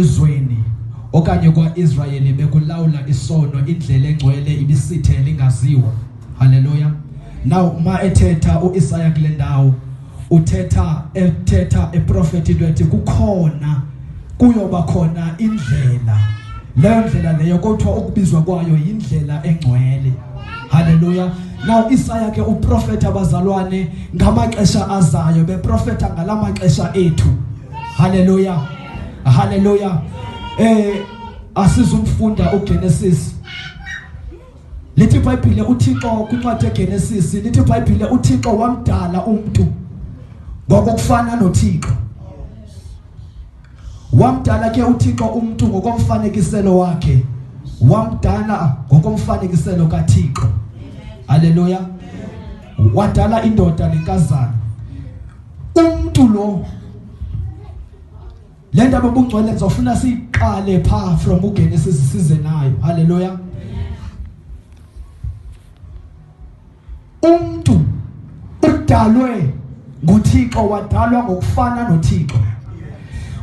ezweni okanye kwaIsrayeli bekulawula isono indlela engcwele ibisithe lingaziwa haleluya now uma ethetha uIsaya kule ndawo uthetha ethetha eprofeti into ethi kukhona kuyoba khona indlela leyo ndlela leyo kothiwa ukubizwa kwayo yindlela engcwele haleluya now isaya ke uprofeta abazalwane ngamaxesha azayo beprofeta ngalamaxesha ethu haleluya Hallelujah. Eh asizumfunda uGenesis. Lithi iBhayibhile uThixo kwincwadi yeGenesis lithi iBhayibhile uThixo wamdala umuntu ngokufana noThixo. Wamdala ke uThixo umuntu ngokomfanekiselo wakhe. Wamdala ngokomfanekiselo kaThixo. Hallelujah. Wadala indoda nenkazana. Umuntu lo le ndaba ubungcwele ndizofuna siyiqale phaa from ugenesis size nayo halleluya umntu udalwe nguthixo wadalwa ngokufana nothixo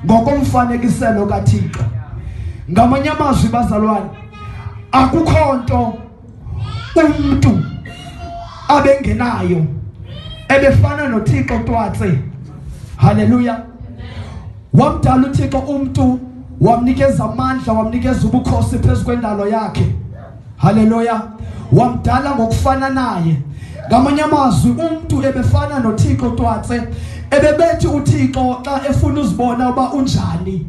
ngokomfanekiselo kathixo ngamanye amazwi bazalwane akukho nto umntu abengenayo ebefana noThixo twatse haleluya wamdala uThixo umntu wamnikeza amandla wamnikeza ubukhosi phezu kwendalo yakhe haleluya wamdala ngokufana naye ngamanye amazwi umntu ebefana noThixo twatse ebebethi uThixo xa efuna uzibona uba unjani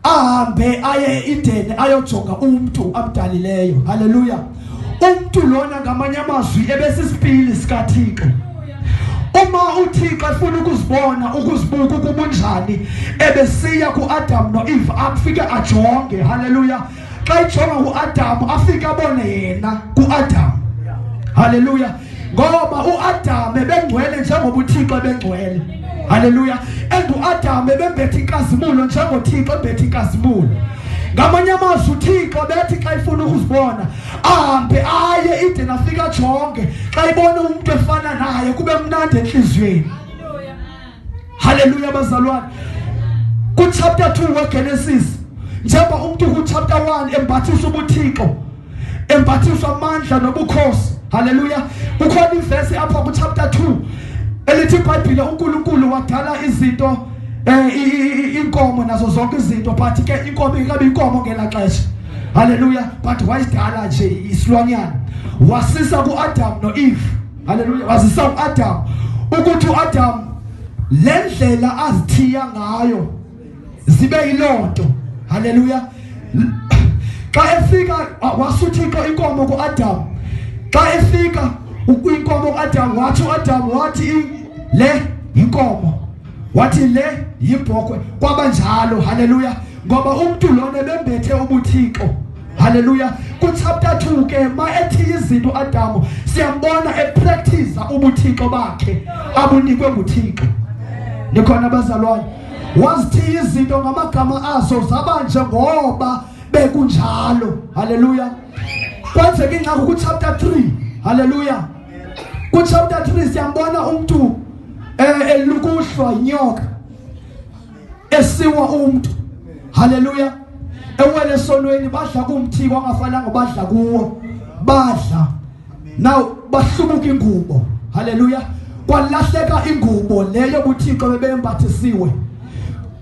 ahambe aye eIdeni ayojonga umntu amdalileyo haleluya umntu lona ngamanye amazwi ebesisipili sikathixo uma uthixo efuna ukuzibona ukuzibuka ukuba unjani ebesiya kuadamu noeve afike ajonge haleluya xa ijonga uadamu afike abone yena kuadamu haleluya ngoba uAdam ebengcwele njengoba uThixo ebengcwele haleluya and uAdam ebembethe inkazimulo njengoba uThixo ebethe inkazimulo ngamanye amazwi uthixo bethi xa ifuna ukuzibona ahambe aye ide nafika jonge xa ibona umntu efana naye kube mnandi entliziyweni Haleluya bazalwane. Ku chapter 2 weGenesis njengoba umuntu ku chapter 1 embathisa ubuthixo embathiswa amandla nobukhosi. Haleluya. Kukhona ivesi apha ku chapter 2 elithi iBhayibhile uNkulunkulu wadala izinto eh inkomo nazo zonke izinto but ke inkomo ingabe inkomo ngelaxesha haleluya but wayidala nje isilwanyana wasisa kuAdam noEve Haleluya. Wazisa uAdam ukuthi uAdam lendlela azithiya ngayo zibe yilonto. Haleluya. Xa efika wasuthixo inkomo kuAdam. Xa efika inkomo kuAdam wathi uAdam wathi le inkomo wathi le yibhokwe kwabanjalo haleluya ngoba umuntu lona bembethe ubuthixo Haleluya. Ku chapter 2 ke ma ethi izinto Adamu siyambona e practice ubuthixo bakhe abunikwe nguThixo. Nikhona bazalwane. Wazithi izinto ngamagama aso zaba nje ngoba bekunjalo. Haleluya. Kwenzeka ingxaki ku chapter 3. Haleluya. Ku chapter 3 siyambona umuntu eh elukuhlwa inyoka esiwa umuntu haleluya ewele sonweni badla kumthi kwangafananga badla kuwo badla now bahlubuka ingubo haleluya kwalahleka ingubo leyo kuthixo bebembathisiwe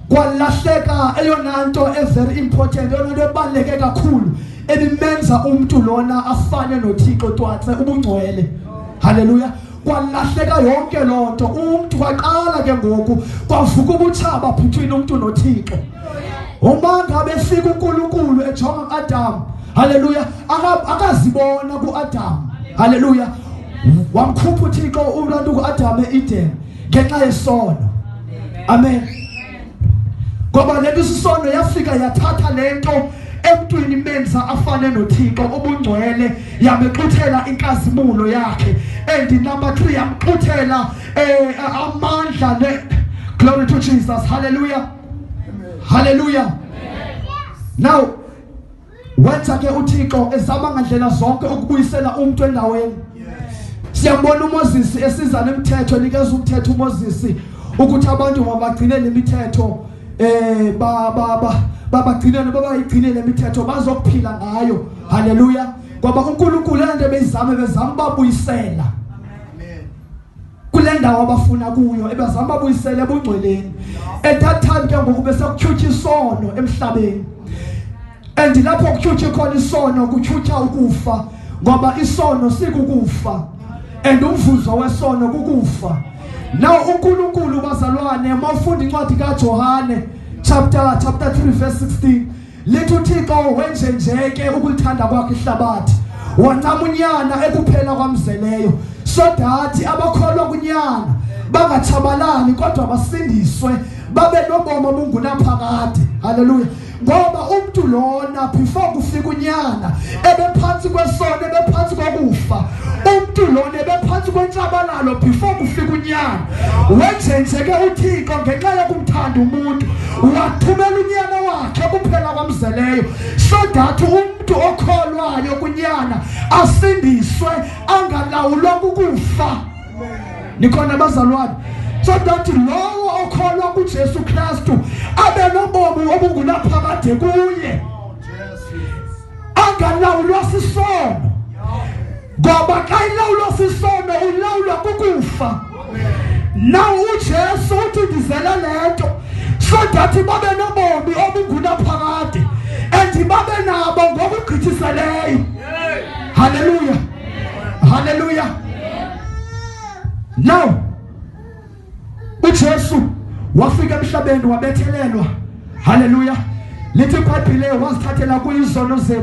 kwalahleka eyona nto every important eyona nto ebaluleke kakhulu ebimenza umntu lona afane nothixo twatse ubungcwele haleluya kwalahleka yonke loo nto umntu kwaqala ke ngoku kwavuka ubutshaba phuthwini umntu nothixo umanga befika unkulunkulu ejonga uadamu haleluya akazibona kuadamu haleluya wamkhupha uthixo ulantu kuadamu eeden ngenxa yesono amen, amen. ngoba le nto isisono yafika yathatha le nto emntwini imenza afane nothixo ubungcwele yamexuthela inkazimulo yakhe and number three yamxuthela um amandla ne glory to jesus halleluya halleluya now wenza ke uThixo ezama ngandlela zonke ukubuyisela umuntu endaweni siyambona uMoses esiza nemithetho nikeza umthetho uMoses ukuthi abantu mabagcine lemithetho eh ba ba ba babagcinele babayigcine lemithetho bazokuphila ngayo haleluya ngoba uNkulunkulu lento bezizame bezama babuyisela kule ndawo abafuna kuyo ebazama babuyisele ebungcweleni at that time ke ngoku besekutyhutyha isono emhlabeni and lapho kutyhutyha khona isono kutyhutyha ukufa ngoba isono sikukufa and umvuzo wesono kukufa now uNkulunkulu bazalwane mawufunda incwadi kaJohane chapter chapter 3 verse 16 lithi uthixo wenje nje ke ukulithanda kwakhe ihlabathi wancama unyana ekuphela kwamzeleyo so that abakholwa kunyana bangatshabalali kodwa basindiswe babe nobomi obungunaphakade haleluya ngoba umuntu lona before kufika unyana ebephansi kwesono ebephansi kokufa umuntu lona ebephansi kwentshabalalo before kufika unyana wenjenjeke uthixo ngenxa yokumthanda umuntu wathumela unyana wakhe kuphela kwamzeleyo so that umntu okholwayo kunyana asindiswe angalawulwa kukufa nikhona bazalwane so that lowo okholwa kuJesu Kristu abe nobomi obungunaphakade kuye angalawulwa sisono ngoba xa ilawulwa sisono ulawulwa kukufa na ujesu uthi ndizela le nto so that babe nobomi obungunaphakade and babe nabo ngokugqithiseleyo haleluya haleluya now uJesu wafika emhlabeni wabethelelwa haleluya lithi ibhayibhile wazithathela kuyizono zethu